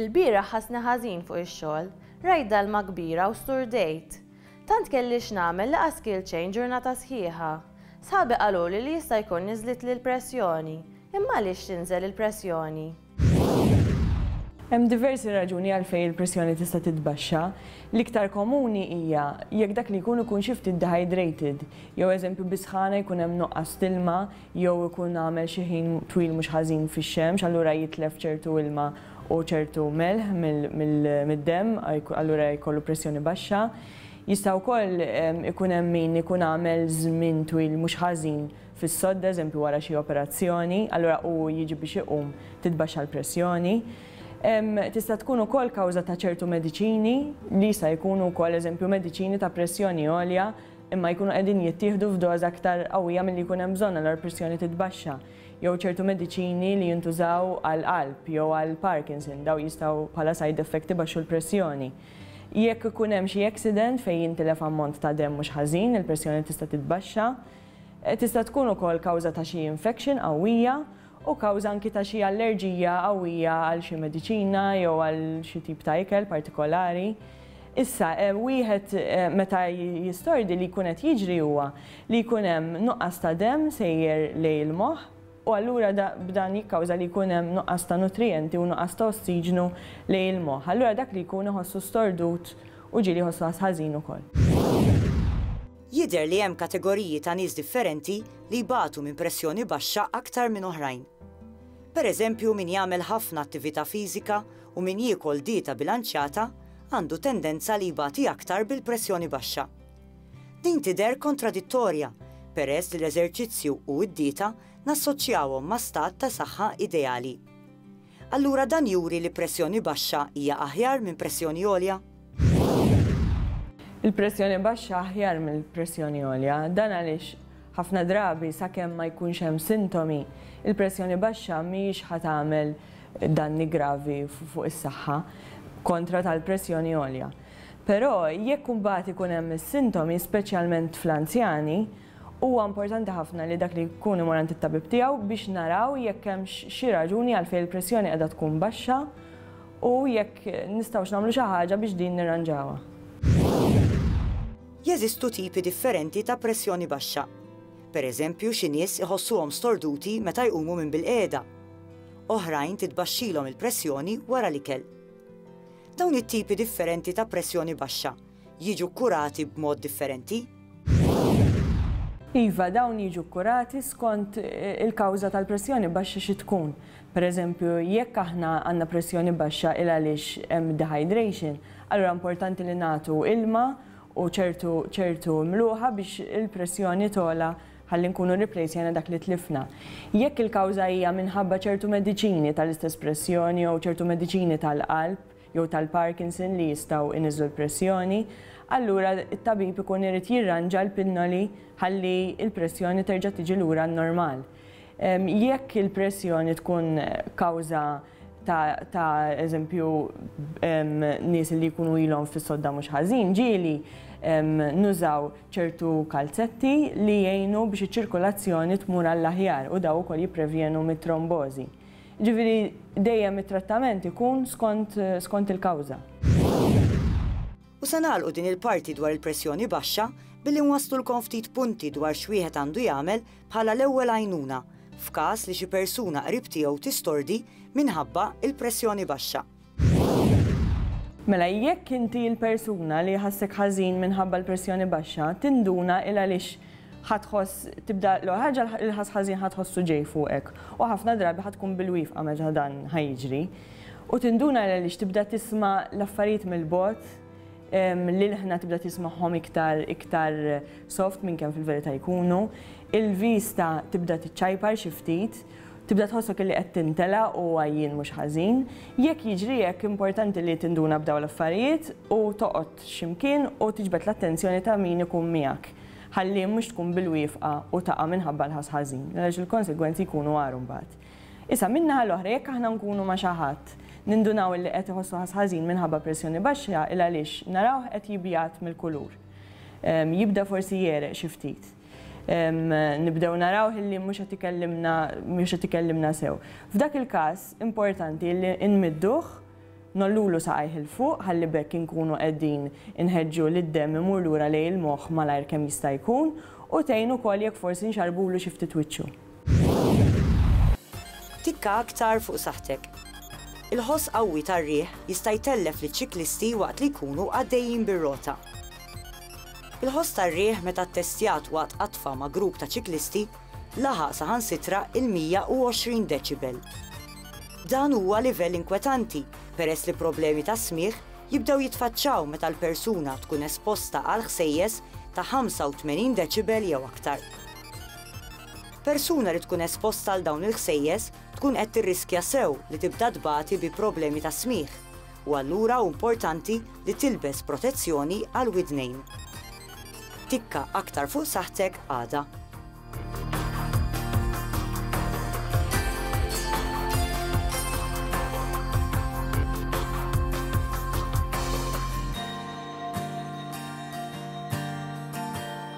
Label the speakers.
Speaker 1: Ilbieraħ ħassni ħażin fuq ix-xogħol, rajt dalma kbira u sturdejt. Tant kelli x'nagħmel li qas kielt xejn ġurnata sħiħa. Sħabi qaluli li jista' jkun niżlitli l-pressjoni. Imma għaliex tinżel il-pressjoni?
Speaker 2: Hemm diversi raġuni għalfejn il-pressjoni tista' titbaxxa. L-iktar komuni hija jekk dak li jkun ikun xi ftit dehydrated, jew eżempju bis-sħana jkun hemm nuqqas t'ilma, jew ikun għamel xi ħin twil mhux ħażin fix-xemx, allura jitlef ċertu ilma u ċertu melħ mid-demm, allura jkollu pressjoni baxxa. Jista' wkoll ikun hemm min ikun għamel żmien twil mhux ħażin fis-sodda, eżempju wara xi operazzjoni, allura hu jiġi biex iqum titbaxxa l-pressjoni. Tista' tkun ukoll kawża ta' ċertu mediċini li jista' jkunu wkoll eżempju mediċini ta' pressjoni għolja, imma jkunu qegħdin jittieħdu f'doża aktar qawwija milli jkun hemm bżonn allura l-pressjoni titbaxxa, jew ċertu mediċini li jintużaw għall-qalb jew għall-Parkinson, dawn jistgħu bħala side effect ibaxxu l-pressjoni. Jekk ikun hemm xi accident fejn jintilef ammont ta' demm mhux ħażin, il-pressjoni tista' titbaxxa. Tista' tkun ukoll kawża ta' xi infection qawwija u kawża anki ta' xi allerġija qawwija għal xi mediċina jew għal xi tip ta' ikel partikolari. Issa, wieħed meta jistordi li jkun qed jiġri huwa li jkun hemm nuqqas ta' demm sejjer lejn il-moħħ u allura b'dan jikkawża li jkun hemm nuqqas ta' nutrijenti u nuqqas ta' ossiġnu lejn il-moħħ. Allura dak li jkun iħossu stordut u ġieli jħossu ħażin ukoll.
Speaker 3: Jidher li hemm kategoriji ta' nies differenti li jbatu minn pressjoni baxxa aktar minn oħrajn. Per eżempju min jagħmel ħafna attività fiżika u min jiekol dieta bilanċjata għandu tendenza li jbati aktar bil-pressjoni baxxa. Din tidher kontradittorja peress li l-eżerċizzju u d-dieta nassoċjawhom ma' stat ta' saħħa ideali. Allura dan juri li pressjoni baxxa hija aħjar minn pressjoni għolja?
Speaker 2: Il-pressjoni baxxa aħjar mill-pressjoni għolja. Dan għaliex ħafna drabi sakemm ma jkunx hemm sintomi, il-pressjoni baxxa mhijiex ħa tagħmel danni gravi fuq is-saħħa kontra tal-pressjoni għolja. Però jekk imbagħad ikun hemm is-sintomi, speċjalment fl-anzjani, Huwa importanti ħafna li dak li jkun imur għand it-tabib tiegħu biex naraw jekk hemmx xi raġuni għalfejn il-pressjoni qiegħda tkun baxxa u jekk nistgħux nagħmlu xi ħaġa biex din nirranġawha.
Speaker 3: Jeżistu tipi differenti ta' pressjoni baxxa. Pereżempju xi nies iħossuhom storduti meta jqumu minn bilqiegħda. Oħrajn titbaxxilhom il-pressjoni wara l-ikel. Dawn it-tipi differenti ta' pressjoni baxxa jiġu kkurati b'mod differenti?
Speaker 2: Iva, dawn jiġu kkurati skont il-kawża tal-pressjoni baxxa xi tkun. Pereżempju, jekk aħna għandna pressjoni baxxa 'il għaliex hemm dehydration, allura importanti li nagħtu ilma u ċertu ċertu mluħa biex il-pressjoni togħla ħalli nkunu rriplejsjajna dak li tlifna. Jekk il-kawża hija minħabba ċertu mediċini tal-istess pressjoni jew ċertu mediċini tal-qalb, jew tal-Parkinson li jistgħu jniżżu l-pressjoni, allura t-tabib ikun irid jirranġa l-pinnoli ħalli l-pressjoni terġa' tiġi lura n-normal. Jekk il-pressjoni tkun kawża ta' ta' eżempju nies li jkunu ilhom fis-sodda mhux ħażin ġieli, nużaw ċertu kalzetti li jgħinu biex iċ-ċirkulazzjoni tmur għall-aħjar u dawn ukoll jipprevjenu mit-trombożi. Jiġifieri dejjem it-trattament ikun skont skont il-kawża.
Speaker 3: U se nagħlqu din il-parti dwar il-pressjoni baxxa billi nwasslulkom ftit punti dwar x'wieħed għandu jagħmel bħala l-ewwel għajnuna f'każ li xi persuna qrib tiegħu tistordi minħabba il-pressjoni baxxa.
Speaker 2: Mela jekk inti l-persuna li jħassek ħażin minħabba l-pressjoni baxxa, tinduna 'il għaliex ħa tħoss tibda l-ewwel ħaġa l-ħass ħażin ħa tħossu ġej fuqek u ħafna drabi ħa tkun bil-wifqa meta dan ħa jiġri. U tinduna 'il għaliex tibda tisma' l-affarijiet mill-bogħod, l-ilħna tibda tismagħhom iktar iktar soft minn kemm fil-verità jkunu, il-vista tibda tiċċajpar xi ftit, Tibda tħossok li qed tintela' u għajjien mhux ħażin. Jekk jiġri hekk, importanti li tinduna b'dawn l-affarijiet u toqgħod x'imkien u tiġbed l-attenzjoni ta' min ikun miegħek ħalli mhux tkun bil-wiefqa u taqa' minħabba l-ħass ħażin, għaliex il-konsegwenzi jkunu agħar imbagħad. Issa, min-naħa l-oħra, jekk aħna nkunu ma' xi ħadd, nindunaw li qed iħossu ħass ħażin minħabba pressjoni baxxa, il-għaliex narawh qed jibjad mill-kulur. Jibda forsi jegħreq xi ftit. nibdew narawh li mhux qed ikellimna mhux qed ikellimna sew. F'dak il-każ importanti li nmidduh nollulu saqajh il fuq ħalli bekk inkunu qegħdin inħeġġu li d-demm imur lura lejn il-moħħ malajr kemm jista' jkun u tgħin ukoll jekk forsi nxarrbulu xi ftit wiċċu.
Speaker 3: Tikka aktar fuq saħħtek. Il-ħoss qawwi tar-riħ jista' jtellef liċ-ċiklisti waqt li jkunu għaddejjin bir-rota. Il-ħoss tar-riħ meta ttestjat waqt qatfa ma' grupp ta' ċiklisti laħaq saħansitra l-120 deċibel. Dan huwa livell inkwetanti peress li problemi tas-smigħ jibdew jitfaċċaw meta l-persuna tkun esposta għal ħsejjes ta' 85 deċibel jew aktar. Persuna li tkun esposta għal dawn il-ħsejjes tkun qed tirriskja sew li tibda tbati bi problemi tas-smigħ, u allura hu importanti li tilbes protezzjoni għall-widnejn. Tikka aktar fuq saħħtek għada.